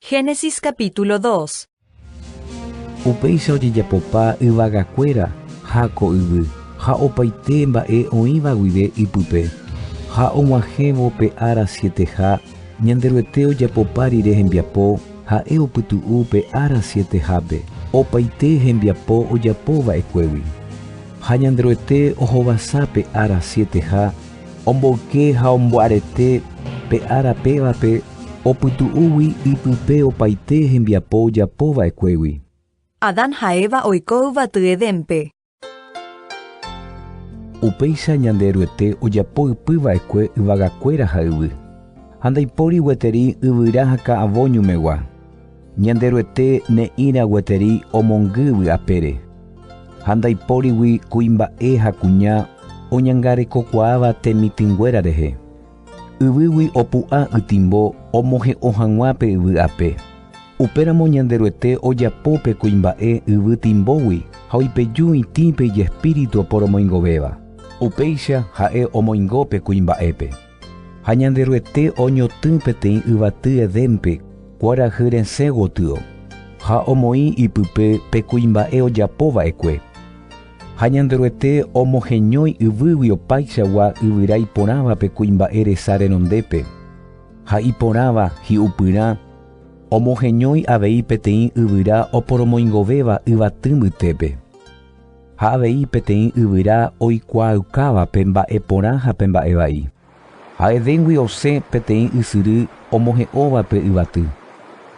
Génesis capítulo 2. Upéicha ojejapopa yvagakuéra ha ko yvy ha opaite mba'e oĩva guive ipype. Ha og̃uahẽvo pe ára sieteha, Ñanderuete ojapopa rire hembiapo, ha'e opytu'u pe ára sietehápe opaite hembiapo ojapo va'ekuégui. Ha Ñanderuete ohovasa pe ára sieteha, Omboyke ha ombo'arete pe ára pévape opytu'úgui ipype opaite hembiapo ojapo va'ekuégui. Adán ha Eva oiko yvaty Edénpe. Upéicha Ñanderuete ojapo ypy va'ekue yvagakuéra ha yvy, ha ndaipóri gueteri yvyra ha ka'avo ñumegua. Ñanderuete ne'ĩra gueteri omongy vy'apére, ha ndaipórigui kuimba'e ha kuña oñangarekokuaáva temitỹnguéra rehe. Yvýgui opu'ã ytĩmbo omohe'õ hag̃ua pe yvy ape. Upéramo Ñanderuete ojapo pe kuimba'e yvy tĩmbógui ha oipeju itĩ pe ijespíritu oporomoingovéva. Upéicha ha'e omoingo pe kuimba'épe. Ha Ñanderuete oñotỹ peteĩ yvaty Edénpe kuarahy resẽ gotyo, ha omoĩ ipype pe kuimba'e ojapo va'ekue. Ha Ñanderuete omoheñói yvýgui opaichagua yvyra iporãva pe kuimba'e resa renondépe, ha iporãva hi'upyrã omoheñói avei peteĩ yvyra oporomoingovéva yvaty mbytépe. Ha avei peteĩ yvyra oikuaaukáva pe mba'e porã ha pe mba'e vai. Ha'evéngui osẽ peteĩ ysyry omohe'óva pe yvaty,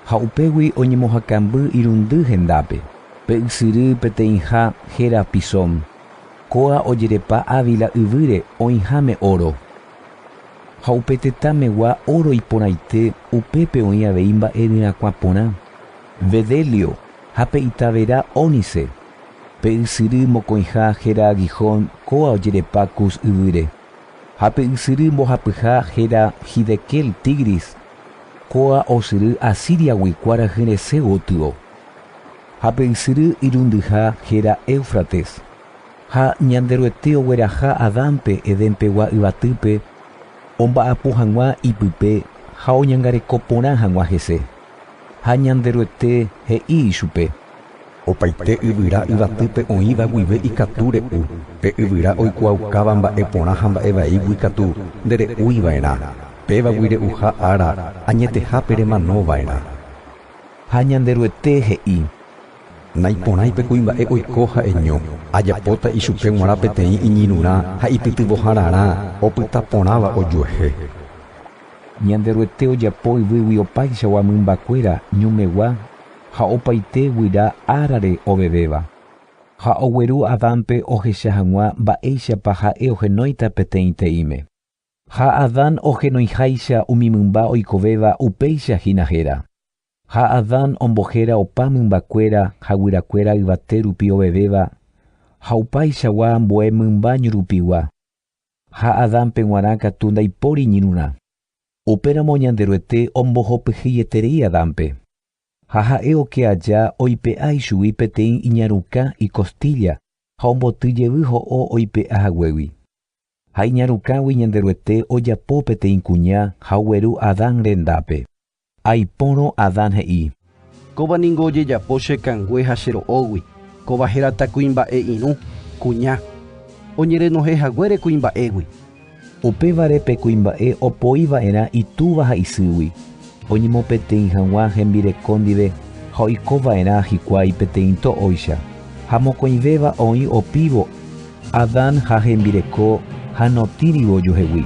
ha upégui oñemohakamby irundy hendápe, pe ysyry peteĩha héra Pisón, kóa ojerepa Ávila yvýre oĩháme óro. Ha upe tetã megua óro iporãite upépe oĩ avei mba'e ryrãkuã porã, bdeelio ha pe itavera ónice, Pe ysyry mokõiha héra Gihón kóva ojerepa Cus yvýre, ha pe ysyry mbohapyha héra Hiddekel, Tigris, kóva osyry Asíriagui kuarahy resẽ gotyo, ha pe ysyry irundyha héra Éufrates. Ha Ñanderuete ogueraha Adánpe Edénpegua yvatýpe omba'apo hag̃ua ipype ha oñangareko porã hag̃ua hese. Ha Ñanderuete he'i ichupe, Opaite yvyra yvatýpe oĩva guive ikatu re'u, pe yvyra oikuaaukáva mba'e porã ha mba'e vaígui katu ndere'úi va'erã, pévagui re'uha ára añetehápe remano va'erã. Ha Ñanderuete he'i, Naiporãi pe kuimba'e oiko ha'eño, ajapóta ichupe g̃uarã peteĩ iñirũrã ha ipytyvõhararã opyta porãva ojuehe. Ñanderuete ojapo yvýgui opaichagua mymbakuéra ñumegua ha opaite guyra árare ovevéva, ha ogueru Adánpe ohecha hag̃ua mba'éichapa ha'e ohenóita peteĩte'íme. Ha Adán ohenoiháicha umi mymba oikovéva upéicha hína héra. Ha Adán ombohéra opa mymbakuéra ha guyrakuéra yvate rupi ovevéva ha opaichagua ambue mymba ñurupigua. Ha Adánpe g̃uarã katu ndaipóri iñirũrã. Upéramo Ñanderuete ombohopyhyeterei Adánpe. Ha ha'e oke aja oipe'a ichugui peteĩ iñarukã ikostílla ha omboty jevy ho'o oipe'a haguégui. Ha iñarukãgui Ñanderuete ojapo peteĩ kuña ha ogueru Adán rendápe. Aipórõ Adán he'i. Kóva ningo ojejapo che kangue ha che ro'ógui, kóva hérata kuimba'e irũ, kuña. Oñerenohẽ haguére kuimba'égui. Upévare pe kuimba'e opoi va'erã itúva ha isýgui, oñemopeteĩ hag̃ua hembireko ndive ha oiko va'erã hikuái peteĩ to'óicha, ha mokõivéva oĩ opívo. Adán ha hembireko ha notĩrivo ojuhegui.